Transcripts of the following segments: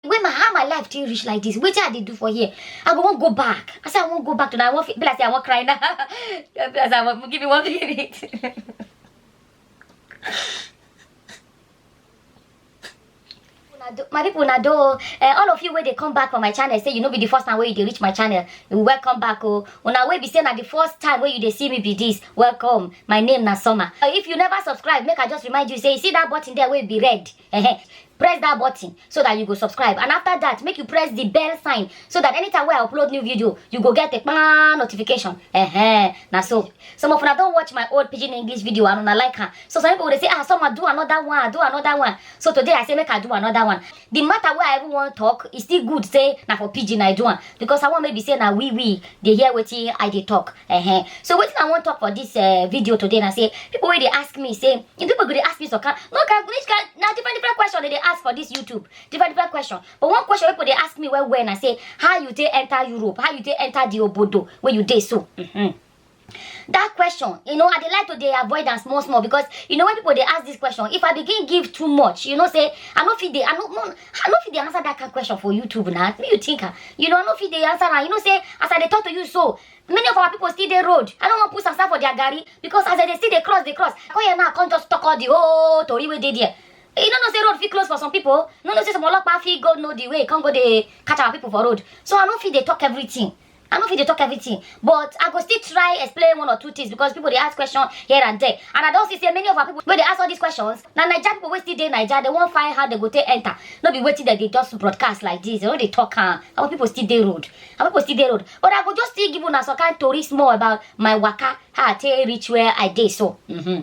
when my how my life take reach like this wetin i dey do for here i go wan go back i say i wan go back to na i wan fit be like say i wan cry now be like say i wan give me one minute Una do- my people na do uh, all of you wey dey come back for my channel say you no be the first time wey you dey reach my channel you welcome back o una wey be say na the first time wey you dey see me be this welcome my name na summer Uh, if you never subscribe make i just remind you say you see that button there wey be red Ehe. press that button so that you go subscribe and after that make you press the bell sign so that anytime wey i upload new video you go get a kpaa notification Ehe. na so some of una don watch my old pidgin english video and una like am so some people dey say ah someone do another one do another one so today i say make i do another one the matter wey i even wan talk e still good say na for pidgin i do am because i wan make be say na we we dey hear wetin i dey talk uh -huh. so wetin i wan talk for this uh, video today na say people wey dey ask me say if people go dey ask me some kind no kind which kind na different different question they dey ask for this youtube different different question but one question wey people dey ask me well well na say how you take enter europe how you take enter the obodo wey you dey so mm -hmm. that question you know i dey like to dey avoid am small small because you know when people dey ask this question if i begin give too much you know say i no fit dey i no no i no fit dey answer that kind question for youtube na me you think am you know i no fit dey answer am you know say as i dey talk to you so many of our people still dey road i no wan put sasa for their garri because as i dey still dey cross dey cross i come here now i come just talk all the whole tori wey dey there you no know say road fit close for some people you no know say some olopa fit go know the way come go dey catch our people for road so i no fit dey talk everything I no fit dey talk everything, but I go still try explain one or two things because people dey ask questions here and there. And I don see say many of our people wey dey ask all these questions, na Naija people wey still dey Naija, they wan find how they go take enter. No be wetin dem dey just broadcast like this, they no dey talk am. Our people still dey road. Our people still dey road. But I go just still give una some kind tori small about my waka, how I take reach where I dey so. Mm-hmm.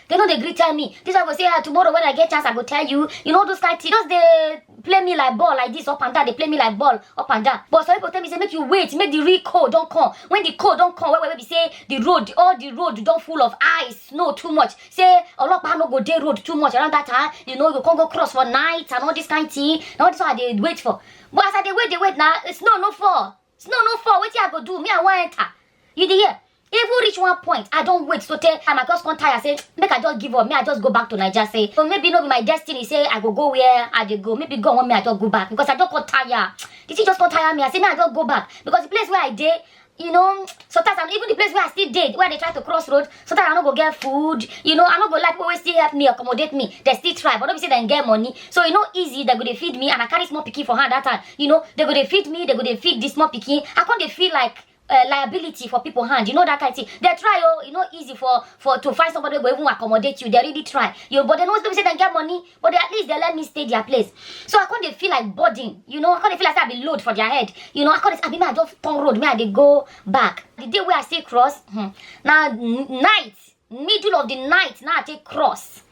They no dey gree tell me. This one go say, ah, tomorrow when I get chance, I go tell you. You know those kind things. Just dey play me like ball like this up and down. They play me like ball up and down. But some people tell me say make you wait, make the real cold don come. When the cold don come, where where we say the road, all the road don full of ice, snow too much. Say Olopa no go dey road too much around that time. You know you can't go cross for night and all this kind thing. Now this one I dey wait for. But as I dey wait, dey wait now, snow no fall. snow no fall wetin i go do me i wan enter you dey hear even reach one point i don wait so tey and i just come tire say make i just give up me i just go back to naija say so maybe no be my destiny say i go go where i dey go maybe god want me i just go back because i just come tire the thing just come tire me i say make i just go back because the place where i dey you know sometimes i'm even the place where i still dey where i dey try to cross road so that i no go get food you know i no go like people wey still help me accommodate me dem still try but no be say dem get money so e no easy dem go dey feed me and i carry small pikin for hand that time you know dem go dey feed me dem go dey feed the small pikin i come dey feel like uh, liability for people hand you know that kind thing they try oh e no easy for for to find somebody wey go even accommodate you they really try you but they no still be say dem get money but they at least they let me stay their place so i come dey feel like burden you know i come dey feel like say i be load for their head you know i come dey abi me i just turn road me i dey go back the day wey i say cross hmm, na n- night middle of the night na i take cross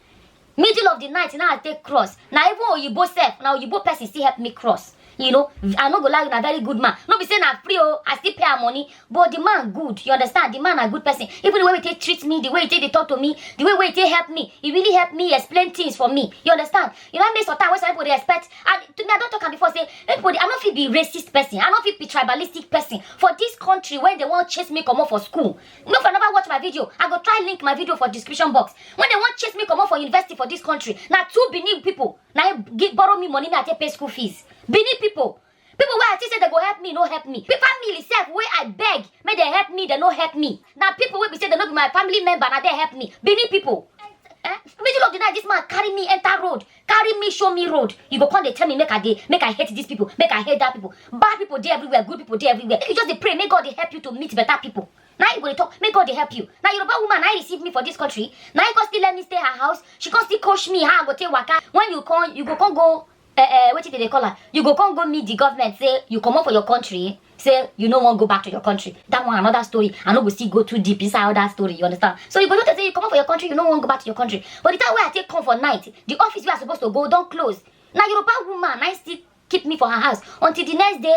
middle of the night na i take cross na even oyibo sef na oyibo person still help me cross you know i no go lie you na very good man no be say na free o i still pay her money but the man good you understand the man na good person even the way he take treat me the way he take dey talk to me the way wey he take help me he really help me explain things for me you understand you know how many sometimes wey some people dey expect and to me i don talk am before say make people dey i no fit be racist person i no fit be tribalistic person for this country wey dey wan chase me comot for school no for never watch my video i go try link my video for description box when they wan chase me comot for university for this country na two benin people na him give borrow me money me i take pay school fees benin people people wey i think say dem go help me no help me Pe- family sef wey i beg make dem help me dem no help me na people wey be say dem no be my family member na dem help me benin people eh middle of the night this man carry me enter road carry me show me road you go come dey tell me make i dey make i hate these people make i hate that people bad people dey everywhere good people dey everywhere you just dey pray make god dey help you to meet better people na you go dey talk make god dey help you na yoruba woman na him receive me for dis country na him come still let me stay her house she come still coach me how i go take waka when you come you go come go uh, uh, wetin dem dey call am you go come go meet the government say you comot for your country say you no wan go back to your country that one another story i no go still go too deep inside all that story you understand so you go notice say you comot for your country you no wan go back to your country but the time wey i take come for night the office wey i suppose to go don close na yoruba woman na him still keep me for her house until the next day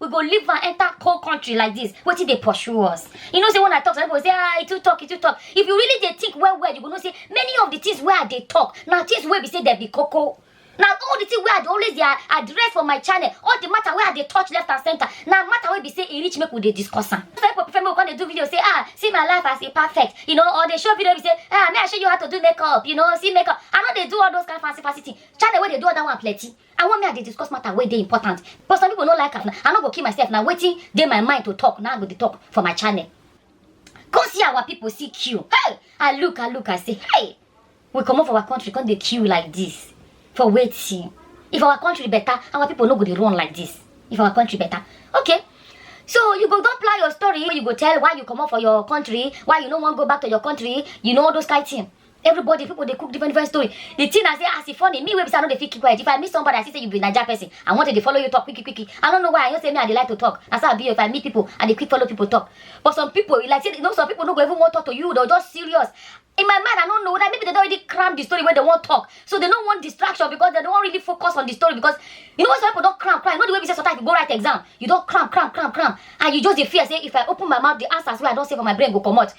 we go leave am enter cold country like this wetin dey pursue us you know say when i talk some people go say ah e too talk e too talk if you really dey think well well you go know say many of the things wey i dey talk na things wey be say dem be koko na all the thing wey i dey always dey a- address for my channel all the matter wey i dey touch left and center na matter wey be say e reach make we dey discuss am some people prefer make we come dey do video say ah see my life as e perfect you know or dey show video be say ah may i show you how to do makeup you know see makeup i no dey do all those kind fancy fancy thing channel wey dey do all that one plenty I want me I dey discuss matter wey dey important but some people no like am na I no go kill myself na wetin dey my mind to talk na I go dey talk for my channel. Come see our people see queue hey I look I look I say hey we comot for our country come dey queue like this for wetin if our country better our people no go dey run like this if our country better okay so you go don plan your story wey you go tell why you comot for your country why you no wan go back to your country you know all those kind thing everybody people dey cook different different story the thing i say as e funny me wey be say i no dey fit keep quiet if i meet somebody i see say you be naija person i wan to dey follow you talk quick quick quick i no know why i know say me i dey like to talk na so i be if i meet people i dey quick follow people talk but some people e like say you know some people no go even wan talk to you they'll just serious in my mind i no know whether maybe they don already cram the story wey they wan talk so they no want distraction because they no wan really focus on the story because you know when some people don cram cram you know the way be say sometimes you go write exam you don cram cram cram cram and you just dey fear say if i open my mouth the answers wey i don say for my brain go comot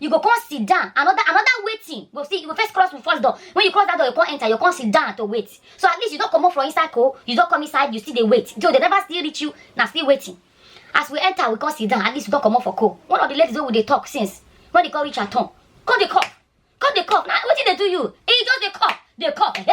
you go come sit down another another waiting go see you go first cross the first door when you cross that door you come enter you come sit down to wait so at least you don comot from inside cold you don come inside you still dey wait so they never still reach you na still waiting as we enter we come sit down at least you don comot for cold one of the ladies wey we dey talk since when they come reach her turn come dey cough come dey cough na wetin dey do you e just dey cough dey cough eh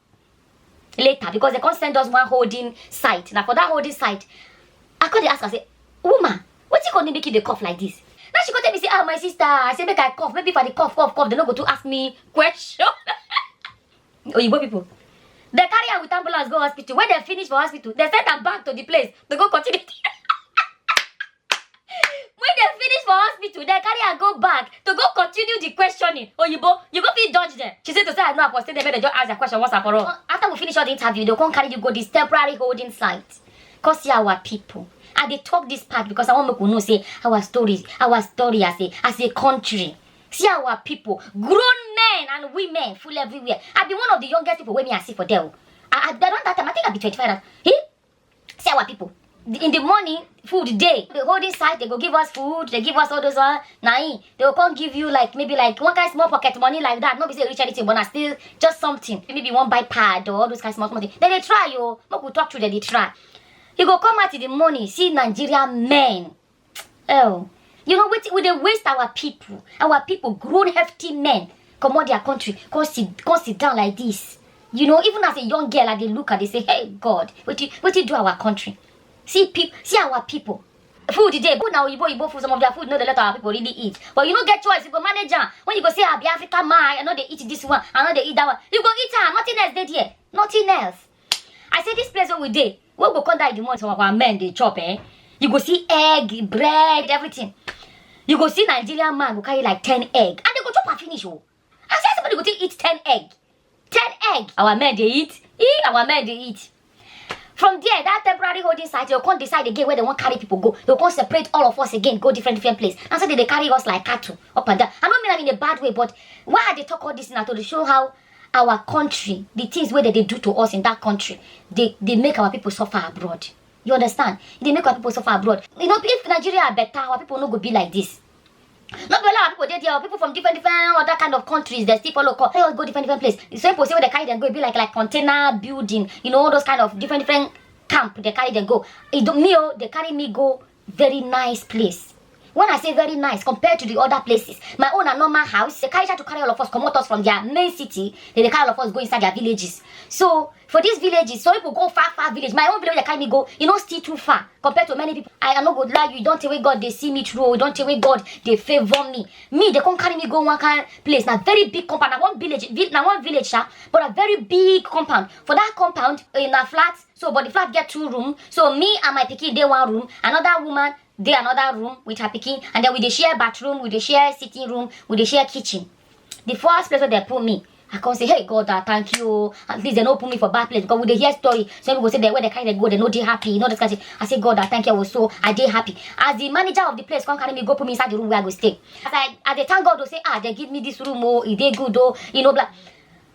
later because they come send us one holding site na for that holding site i come dey ask am say woman wetin come dey make you dey cough like this now she come tell me say ah my sister i say make i cough maybe if i dey cough cough cough they no go too ask me question oyibo people they carry am with ambulance go hospital when they finish for hospital they send am back to the place to go continue when dem finish for hospital dem carry am go back to go continue the questioning oyibo you go fit dodge dem she say to say i know upon say dem make dem just ask their question once and for all Uh, after we finish all the interview dem come carry you go this temporary holding site come see our people i dey talk this part because i wan make we know say our story our story as a as a country see our people grown men and women full everywhere i be one of the youngest people wey me i see for there o i i don that time i think i be twenty-five at he See our people. In the morning, food day. The whole this side, they go give us food. They give us all those one. Nah, eh, they will come give you like maybe like one kind small pocket money like that. Not be say rich anything, but I still just something. Maybe one buy pad or all those kind small money. Then they try you. Oh. Make we talk to them. They try. You go come out in the morning, see Nigerian men. Oh, you know what? We dey waste our people, our people, grown hefty men, come out their country, come sit, come sit down like this. You know, even as a young girl, I dey look at, they say, hey God, what you, what you do our country? See people, see our people. Food today, good now, Igbo, Igbo food, some of their food, no, they let our people really eat. But you no get choice, you go manage am. When you go say, I be African man, I know they eat this one, I know they eat that one. You go eat am, nothing else dey there, nothing else. I say this place where we dey, When we go come die the month our men dey chop eh, you go see egg, bread, everything. You go see Nigerian man go carry like 10 egg and they go chop and finish oh. I say somebody go take eat 10 egg. 10 egg. Our men dey eat, eh, our men dey eat. From there, that temporary holding site, they'll come decide again where they want carry people go. They'll come separate all of us again, go different different place. And so they, they carry us like cattle up and down. I don't mean I'm in a bad way, but why are they talk all this now to show how our country the things wey dem dey do to us in that country dey dey make our people suffer abroad you understand e dey make our people suffer abroad you know if nigeria better our people no go be like this no be only our people dey there people from different different other kind of countries dey still follow come go different different place the same place wey dey carry dem go e be like like container building you know all those kind of different different camp dey carry dem go e do me o dey carry me go very nice place when i say very nice compared to the other places my own na normal house they carry to carry all of us comot us from their main city they dey carry all of us go inside their villages so for these villages some people go far far village my own village wey dey carry me go e no still too far compared to many people i i no go lie you e don tey wey god dey see me through o e don tey wey god dey favour me me dey come carry me go one kind place na very big compound na one village vi- na one village sha but na very big compound for that compound eh, na flat so but the flat get two room so me and my pikin dey one room another woman dey another room with her pikin and then we dey share bathroom we dey share sitting room we dey share kitchen the first place wey dem put me i come say hey god ah thank you o at least dem no put me for bad place because we dey hear story some people go say dem wey dem carry dem go dem no dey happy you know this kind of thing i say god ah thank you o so i dey happy as the manager of the place come carry me go put me inside the room where i go stay as i i dey thank god o say ah dem give me this room o e dey good o you know blah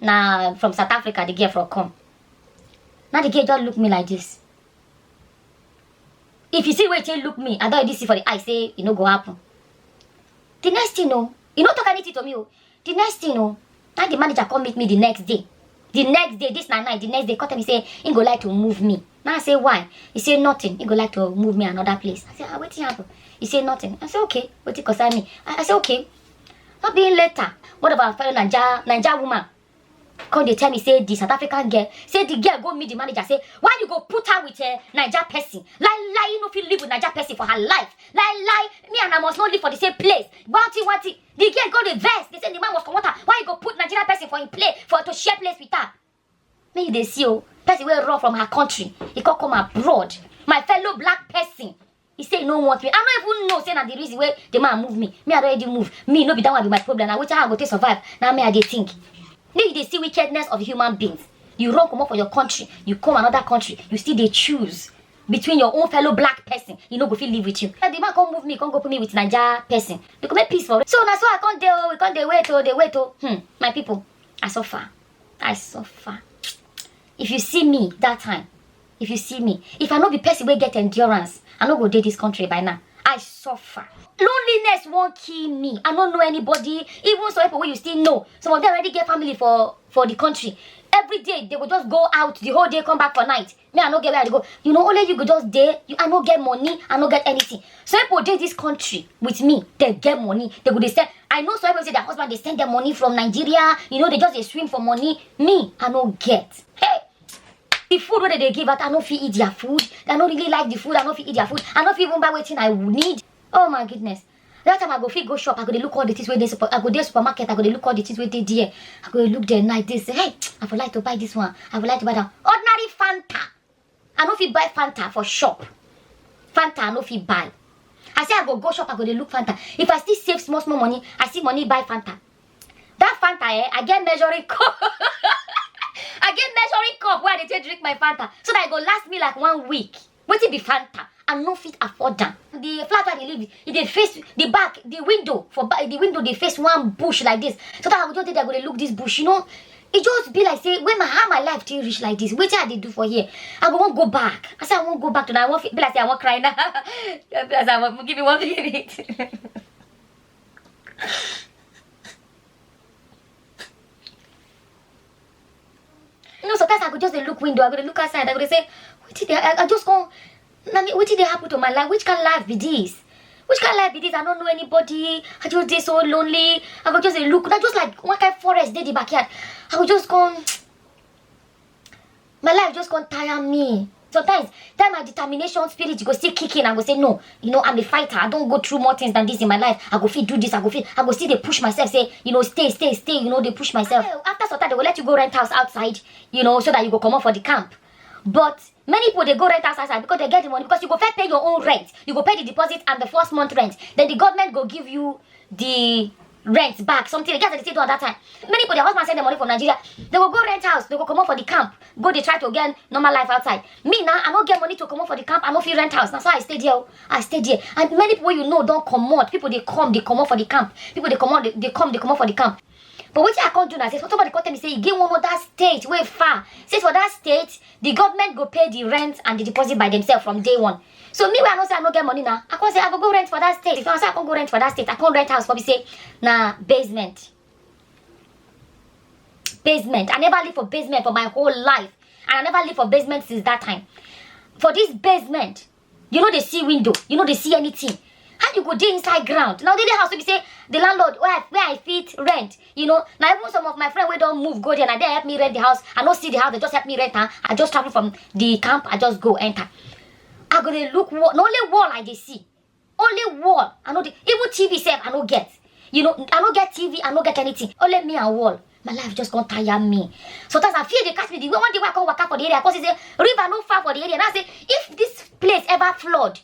na from south africa the girl from come na the girl just look me like this if you see wetin look me i don already see for the eye say e no go happen the next thing o e no talk anything to me o the next thing o na the manager come meet me the next day the next day this na night the next day come tell me say he go like to move me na i say why he say nothing he go like to move me another place i say ah wetin happen he say nothing i say okay wetin concern me i, I say okay Not being later. What about fellow Niger, Niger woman? Come they tell me, say the South African girl, say the girl go meet the manager, say, why you go put her with a Niger person? Lie, lie, you know, if you live with Niger person for her life. Lie, lie, me and I must not live for the same place. Wanty, wanty. The girl go the vest. They say the man must come water. Why you go put Nigerian person for in play, for to share place with her? make you dey see o person wey run from her country e come come abroad my fellow black person e say e no want me i no even know say na the reason wey the man move me me i don already move me no be that one be my problem na wetin i go take survive na me i dey think make you dey see wickedness of human beings you run comot for your country you come another country you still dey choose between your own fellow black person e no go fit live with you and the man come move me come go put me with naija person you go make peace for so na so i come dey o we come dey wait o dey wait o hmm my people i suffer. I suffer. If you see me that time, if you see me, if I no be person wey get endurance, I no go dey this country by now. I suffer. Loneliness won't kill me. I don't know anybody. Even some people you still know. Some of them already get family for, for the country. Every day, they will just go out the whole day, come back for night. me i no get where i dey go you know only you go just dey you i no get money i no get anything some people dey this country with me they get money they go dey send i know some people say their husband dey send them money from nigeria you know they just dey swim for money me i no get hey the food wey they dey give out i no fit eat their food i no really like the food i no fit eat their food i no fit even buy wetin i need oh my goodness Dat time I go fit go shop, I go dey look all the things wey dey super, I go dey supermarket, I go dey look all the things wey dey there. I go dey look there night dey say, hey, I for like to buy this one, I for like to buy that one. Ordinary Fanta, I no fit buy Fanta for shop. Fanta I no fit buy. I say I go go shop, I go dey look Fanta. If I still save small small money, I see money buy Fanta. That Fanta eh, I get measuring cup. I get measuring cup wey I dey take drink my Fanta so that e go last me like one week. wetin be fanta i no fit afford am the flat i dey live e dey face the back the window for back the window dey face one bush like this so that i go just dey there go dey look this bush you know e just be like say when my how my life take reach like this wetin i dey do for here i go wan go back i say i wan go back to na i wan fe- be like say i wan cry now be like say i wan give me one minute you know sometimes i go just dey look window i go dey look outside i go dey say wetin dey i i just come na me wetin dey happen to my life which kind life be this which kind life be this i no know anybody i just dey so lonely i go just dey look na just like one kind forest dey the backyard i go just come my life just come tire me Sometimes, that my determination spirit go still kick in and go say, no, you know, I'm a fighter. I don't go through more things than this in my life. I go fit do this. I go fit, I go see they push myself, say, you know, stay, stay, stay, you know, they push myself. Well, after some time, they will let you go rent house outside, you know, so that you go come up for the camp. But many people, they go rent house outside because they get the money, because you go first pay your own rent. You go pay the deposit and the first month rent. Then the government go give you the rent back something the girls dey still do at that time many people their husband send them money from nigeria they go go rent house they go comot for the camp go dey try to get normal life outside me now i no get money to comot for the camp i no fit rent house na so i stay there o i stay there and many people wey you know don comot people dey come dey comot for the camp people dey comot dey dey come dey comot for the camp but wetin i come do na say so somebody come tell me say e get one other state wey far say for that state the government go pay the rent and the deposit by themselves from day one so me wey i know say i no get money na i come say i go go rent for that state so i say i come go rent for that state i come rent house for be say na basement basement i never live for basement for my whole life and i never live for basement since that time for this basement you no dey see window you no dey see anything how you go dey inside ground na only house wey be say the landlord wey i wey i fit rent you know na even some of my friend wey don move go there na there help me rent the house i no see the house they just help me rent am i just travel from the camp i just go enter i go dey look wall na only wall i dey see only wall i no dey even tv sef i no get you know i no get tv i no get anything only me and wall my life just come tire me sometimes i feel dey catch me the way one day wey i come waka for the area i come see say river no far for the area now i say if this place ever flood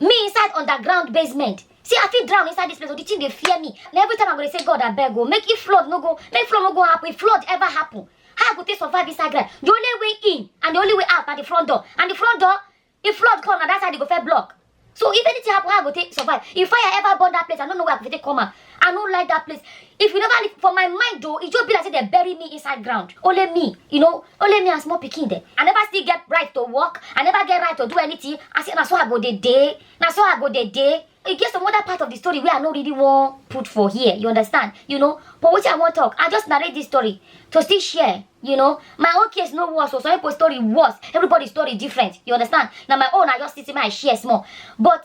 me inside underground basement see i fit drown inside this place but the thing dey fear me na every time i go dey say god abeg o make if flood no go make flood no go happen if flood ever happen how i go take survive inside ground the only way in and the only way out na the front door and the front door if flood come na that side e go first block so if anything happen how i go take survive if fire ever burn that place i no know where i go take come out I no like that place. If you never leave, for my mind though, it just be like say they bury me inside ground. Only me, you know, only me and small pikin there. I never still get right to walk. I never get right to do anything. I say, na so I go the day. Na so I go the day. It gets some other part of the story where I no really want put for here. You understand? You know, but what I want talk, I just narrate this story to still share. You know, my own case no worse, so some people's story worse. Everybody's story different. You understand? Now my own, I just sit in my share small. But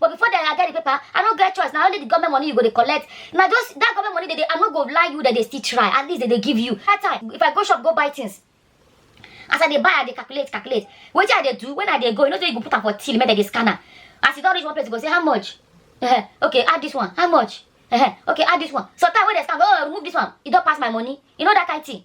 but before dem i get the paper i no get choice na only the government money you go dey collect na just that government money dey dey i no go lie you dem dey still try at least dem dey give you that time if i go shop go buy things as i dey buy i dey calculate calculate wetin i dey do when i dey go you know say you go put am for till make dem dey scan am as you don reach one place you go say how much uh-huh. okay add this one how much uh-huh. okay add this one sometimes when dem scan oh remove this one e don pass my money you know that kind thing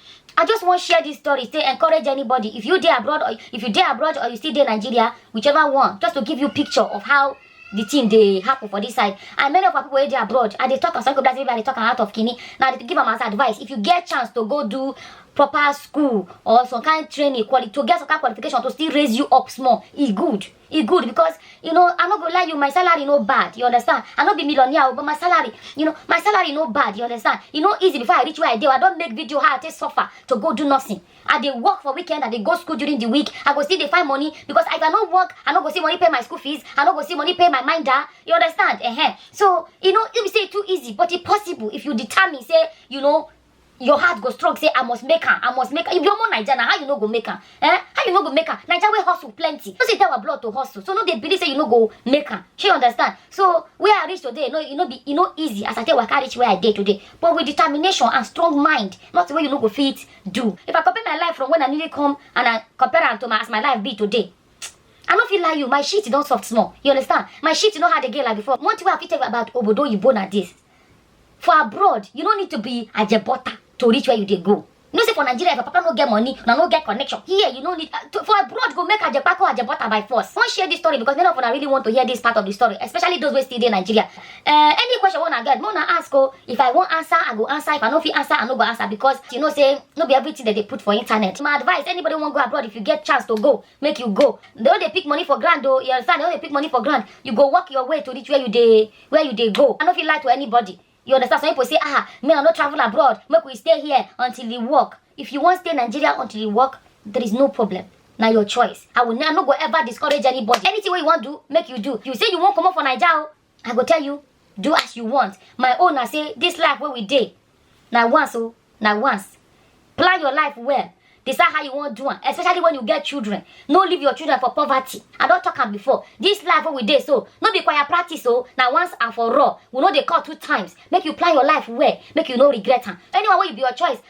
I just want to share this story to encourage anybody. If you there abroad or if you there abroad or you still there Nigeria, whichever one, just to give you picture of how the thing they happen for this side. And many of our people where they abroad and they talk and some people that they talk out of kini. Now they give them as advice. If you get chance to go do proper school or some kind of training quality to get some kind of qualification to still raise you up small, it's good. e good because you know i no go lie you my salary no bad you understand i no be millionaire o but my salary you know my salary no bad you understand e no easy before i reach where i dey o, i don make video how i take suffer to go do nursing i dey work for weekend i dey go school during the week i go still dey find money because if i no work i no go see money pay my school fees i no go see money pay my minder you understand uh-huh. so e no e be say e too easy but e possible if you determine say you know your heart go strong say i must make am i must make am if you omo naija na how you no go make am eh how you no go make am naija wey hustle plenty no say tell our blood to hustle so no dey believe say you no go make am shey you understand so where i reach today no e no be e no easy as i take waka reach where i dey today but with determination and strong mind nothing wey you no go fit do if i compare my life from when i newly come and i compare am to my as my life be today I no fit lie you, my shit don soft small. You understand? My shit no hard again like before. One thing wey I fit tell you about obodo oyibo na this. for abroad you no need to be ajebota to reach where you dey go you know say for nigeria if your papa no get money una no get connection here you no need uh, to, for abroad go make ajepako ajebota by force wan share this story because many of una really want to hear this part of the story especially those wey still dey nigeria uh, any question wey una get make una ask o if i wan answer i go answer if i no fit answer i no go answer because you know say no be everything dem dey put for internet my advice anybody wan go abroad if you get chance to go make you go they no dey pick money for ground o you understand they no dey pick money for ground you go work your way to reach where you dey where you dey go i no fit lie to anybody you understand some people say ah me i no travel abroad make we stay here until e work if you wan stay nigeria until e work there is no problem na your choice i will i no go ever discourage anybody anything wey you wan do make you do you say you wan comot for naija o i go tell you do as you want my own na say this life wey we dey na once o na once plan your life well decide how you wan do am especially when you get children no leave your children for poverty i don talk am before this life wey we dey so no be choir practice o na once and for all we no dey call two times make you plan your life well make you no regret am anyone wey you be your choice